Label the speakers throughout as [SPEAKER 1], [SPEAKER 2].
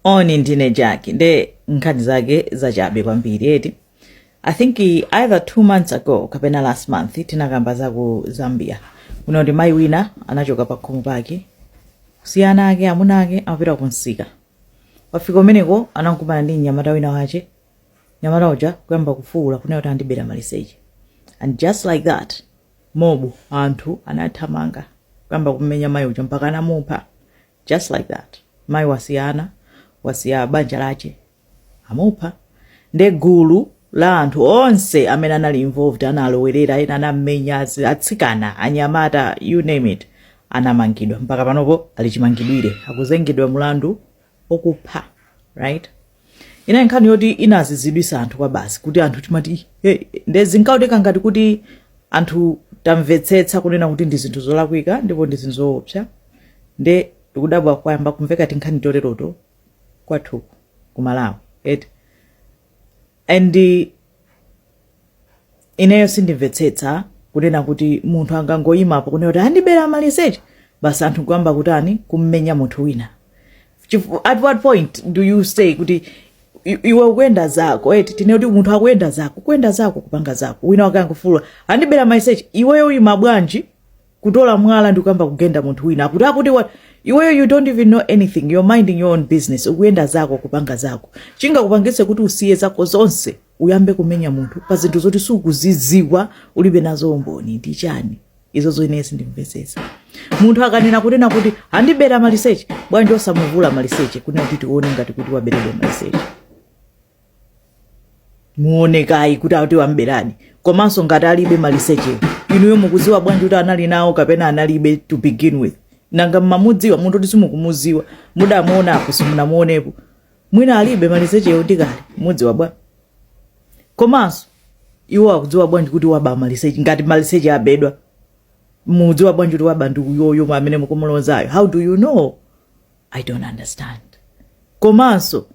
[SPEAKER 1] moni ndine Jackie nde nkhani zake zachabe kwambiri eti i think either two months ago kapena last month tinakamba za ku zambia kuti mayi wina anachoka pa khomo pake kusiya ana ake amuna ake amapita ku msika wafika kumeneko anakumana ndi mnyamata wina wache mnyamata uja kuyamba kufuula kunena kuti andibera maliseche and just like that mobu anthu anathamanga kuyamba kumenya mayi uja mpaka anamupha just like that mai wasiya ana wasiya banja lache amupha nde gulu la anthu onse amene anali involved analowerera ena anammenya azi- atsikana anyamata you name it anamangidwa mpaka panopo ali chimangidwire akuzengedwa mlandu okupha right inali nkhani yoti inadzidzimutsa anthu kwabasi kuti anthu timati nde zinkaoneka ngati kuti anthu tamvetsetsa kunena kuti ndi zinthu zolakwika ndipo ndi zinthu zoopsa nde ndikudabwa kwayamba kumveka tinkhani toteroto kwathu kuno ku malawi eti and Ineyo sindimvetsetsa kunena kuti munthu angangoyima apo kunena kuti andibera maliseche basi anthu nkuyamba kutani kummenya munthu wina Chifu- at what point do you say kuti i- iwe ukuyenda zako eti tinene kuti munthu akuyenda zako kuyenda zako kupanga zako wina wake angofuula andibera maliseche iweyo uyima bwanji kutola mwala ndikuyamba kugenda munthu wina akuti akuti waba iweyo you don't even know anything you're minding your own business ukuyenda zako kupanga zako chingakupangitse kuti usiye zako zonse uyambe kumenya munthu pa zinthu zoti sukuziziwa ulibe nazo umboni ndi chani izozo ine sindimvetsetsa munthu akanena kunena kuti andibera maliseche bwanji osamuvula maliseche kunena kuti tione ngati kuti waberedwa maliseche muone kaye kuti ati wamberadi komanso ngati alibe maliseche inuyo mukuziwa bwanji kuti anali nawo kapena analibe to begin with nanga mmamudziwa munthu woti simukumuziwa mudamuonapo simunamuonepo mwina alibe malisechewo ndi kale mudziwa bwa komanso iwo akudziwa bwanji kuti waba maliseche ngati maliseche abedwa mudziwa bwanji kuti waba ndi uyoyo amene mukumulozayo how do you know i don't understand komanso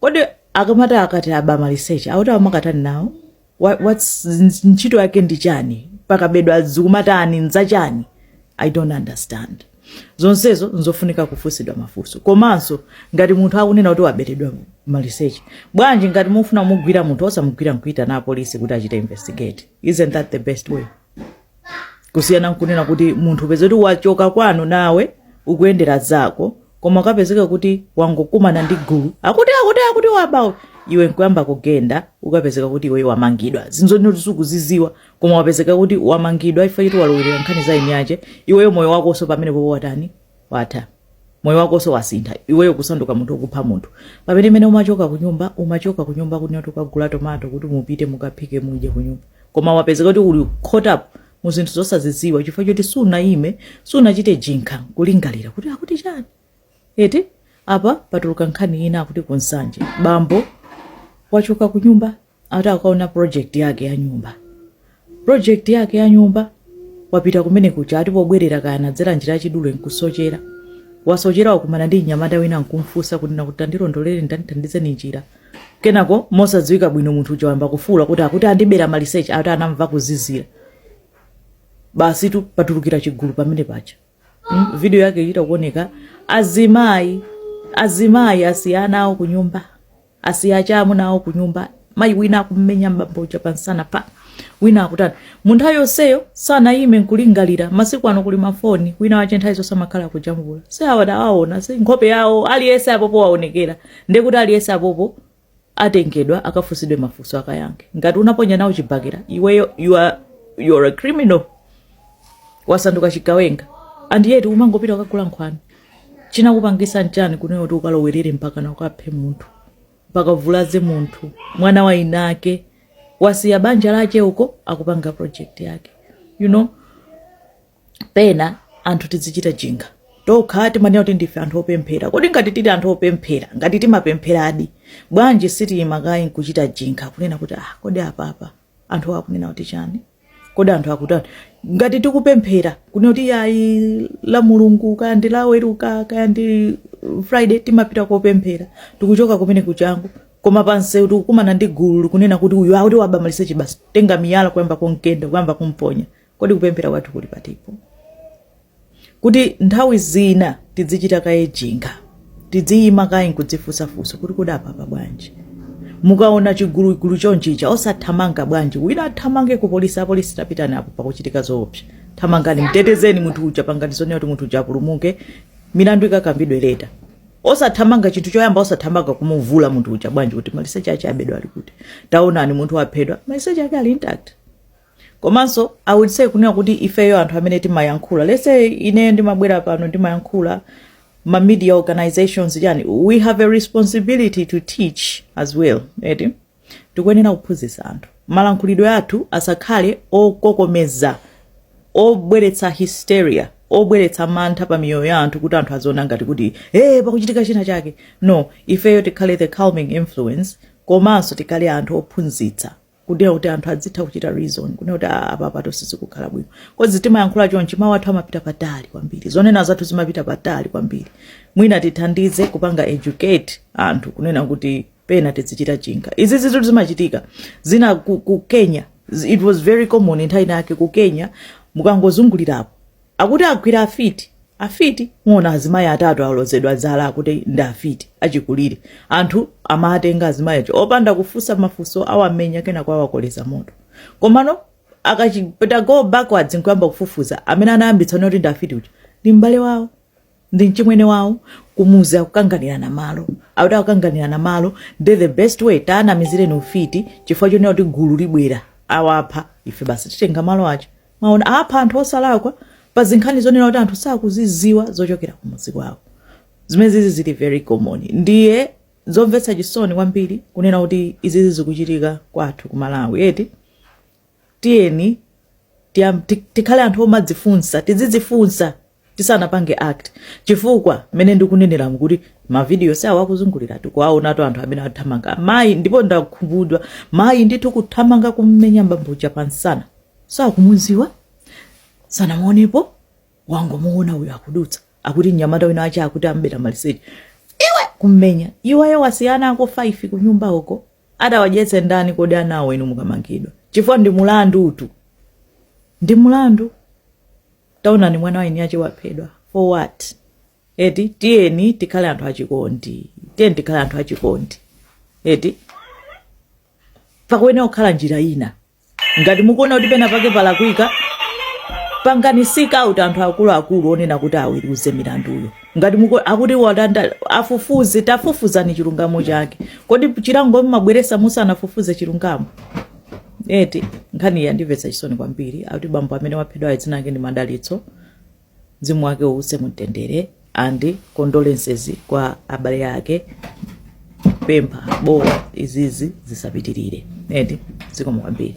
[SPEAKER 1] kodi akamati akati aba maliseche ati amakatani nawo Wha- what's n- ntchito yake ndi chani pakabedwa zikumatani nzachani i don't understand zonsezo nzofunika kufunsidwa mafunso komanso ngati munthu akunena kuti waberedwa maliseche bwanji ngati mufuna kumugwira munthu osamugwira nkuitana apolisi kuti achite investigate isn't that the best way kusiyana nkunena kuti munthu upeze kuti wachoka kwanu nawe ukuyendera zako koma ukapezeka kuti wangokumana ndi gulu akuti akuti akuti waba iwe nkuyamba kugenda ukapezeka kuti iwe wamangidwa zinthu zoti sukuziziwa koma wapezeka kuti wamangidwa chifukwa choti walowerera nkhani za eni yache iweyo moyo wakonso pamenepopo watani watha. Moyo wakonso wasintha. Iweyo kusanduka munthu wokupha munthu. Pamene mene umachoka kunyumba, umachoka kunyumba kunena kuti ukagula tomato kuti mupite mukaphike mudye kunyumba. Koma wapezeka kuti uli caught up mu zinthu zosazidziwa chifukwa choti sunayime, sunachite jinkha kulingalira kuti akuti chani. Eti apa patuluka nkhani ina akuti ku Nsanje bambo wachoka kunyumba ati akaona project yake ya nyumba project yake ya nyumba wapita kumene kuja ati pobwerera kaya anadzera njira yachidule nkusochera wasochera wakumana ndi mnyamata wina nkumfunsa kuti nakuti tandilondolere tandithandizeni njira kenako mosadziwika bwino munthu uja wayamba kufuula kuti akuti andibera maliseche ati anamva kuzizira basitu patulukira chigulu pamene paja mm? video yake ichita kuoneka azimayi azimayi asiya ana awo kunyumba asiya aja amuna awo kunyumba mayi wina akummenya mbambo uja pamsana apa wina akutani mu nthawi yonseyo sanayime nkulingalira masiku ano kuli mafoni wina wache nthawi zonse amakhala akujambula si awa tawaona si nkhope yawo aliyense apopo waonekera ndekuti aliyense apopo atengedwa akafunsidwe mafunso akayankhe ngati unaponya nawo chibakera iweyo you are, you are a criminal wasanduka chigawenga and yet umangopita ukagula nkhwani chinakupangisa nchani kunena kuti ukalowerere mpakana ukaphe munthu mpaka uvulaze munthu mwana wa inake wasiya banja lache uko akupanga project yake you know pena anthu tizichita jinkha tokha timanena kuti ndife anthu opemphera kodi ngati tili anthu opemphera ngati timapempheradi bwanji sitiyima kaye nkuchita jinkha kunena kuti ah kodi apapa anthu akunena kuti chani kodi anthu akutani ngati tikupemphera kunena kuti ayi la mulungu kaya ndi laweruka kaya ndi friday timapita kopemphera tikuchoka kumene kujaku koma pansewu tikukumana ndi gulu likunena kuti uyu akuti waba maliseche basi tenga miyala kuyamba kumgenda kuyamba kumponya Kodi kupemphera kwathu kuli patipo? Kuti nthawi zina tidzichita kaye jinkha, tidziyima kaye nkudzifunsa funso kuti kodi apapa bwanji? Mukaona chigulugulu chonchicha osathamanga bwanji? Wina athamange ku polisi, apolisi tapitani apo pakuchitika zoopsa. Thamangani mtetezeni munthu uja, pangani zonena kuti munthu uja apulumuke, milandu ikakambidwe later. Osathamanga chinthu choyamba, osathamanga kumuvula munthu uja bwanji kuti maliseche ache abedwa ali kuti? Taonani munthu waphedwa, maliseche ake ali intact. komanso i would say kunena kuti ifeyo anthu amene timayankhula let's say ineyo ndimabwera pano ndimayankhula ma media organizations chani we have a responsibility to teach as well eti tikuyenera kuphunzitsa anthu malankhulidwe athu asakhale okokomeza obweretsa hysteria obweretsa mantha pa miyoyo ya anthu kuti anthu aziona ngati kuti e pakuchitika china chake no ifeyo tikhale the calming influence komanso tikhale anthu ophunzitsa kunena kuti anthu adzitha kuchita reason kunena kuti "Ah, apapatu sizikukhala bwino coz timayankhula chonchi mawu athu amapita patali kwambiri zonena zathu zimapita patali kwambiri mwina tithandize kupanga educate anthu kunena kuti pena tizichita think izizitu zimachitika zina ku, ku kenya it was very common nthawi inayake ku kenya mukangozungulirapo Akuti agwira afiti. Afiti? Muona azimayi atatu alozedwa zala akuti ndi afiti, achikulire. Anthu amawatenga azimayi aja opanda kufunsa mafunso, awamenya kenako awakoleza moto. Komano akachipita go backwards nkuyamba kufufuza, amene anayambitsa kuti ndi afiti uja ndi m'bale wawo. ndi mchimwene wawo kumuzi akukanganirana malo akuti akukanganirana malo nde the best way taanamizireni ufiti chifukwa chonena kuti gulu libwera awapha ife basi titenga malo aja mwaona apha anthu osalakwa pa zinkhani zonena kuti anthu sakuziziwa zochokera kumuzi kwawo zimenezi zili very common ndiye zomvetsa chisoni kwambiri kunena kuti izizi zikuchitika kwathu ku malawi eti tiyeni tiyam, ti, tikhale anthu omadzifunsa tidzidzifunsa tisanapange act chifukwa mmene ndikuneneramu kuti mavidiyo si awo akuzungulira tikuwaonatu anthu amene athamanga mayi ndipo ndakhumudwa mayi ndithu kuthamanga kummenya mbambuja pansana sakumuziwa sanamuonepo wangomuona uyo akudutsa akuti mnyamata wina wake akuti wambera maliseche iwe kummenya iweyo wasiya ana ako 5 kunyumba uko Atawadyetse ndani kodi anawo inu mukamangidwa? Chifukwa ndi mulandutu. Ndi mulandu. Taonani mwana wa eni ache waphedwa. For what? Eti tiyeni tikhale anthu achikondi. Tiyeni tikhale anthu achikondi. Eti pakuyenera kukhala njira ina. ngati mukuona kuti pena pake palakwika pangani seek out anthu akuluakulu onena kuti aweruze milanduyo ngati muku- akuti watenga afufuze tafufuzani chilungamo chake kodi chilango mmabweresa musanafufuze chilungamo eti nkhani iyi yandimvetsa chisoni kwambiri akuti bambo amene waphedwayo dzina lake ndi madalitso Mzimu wake uuse mumtendere and condolences kwa abale ake pempha bola izizi zisapitirire eti zikomo kwambiri.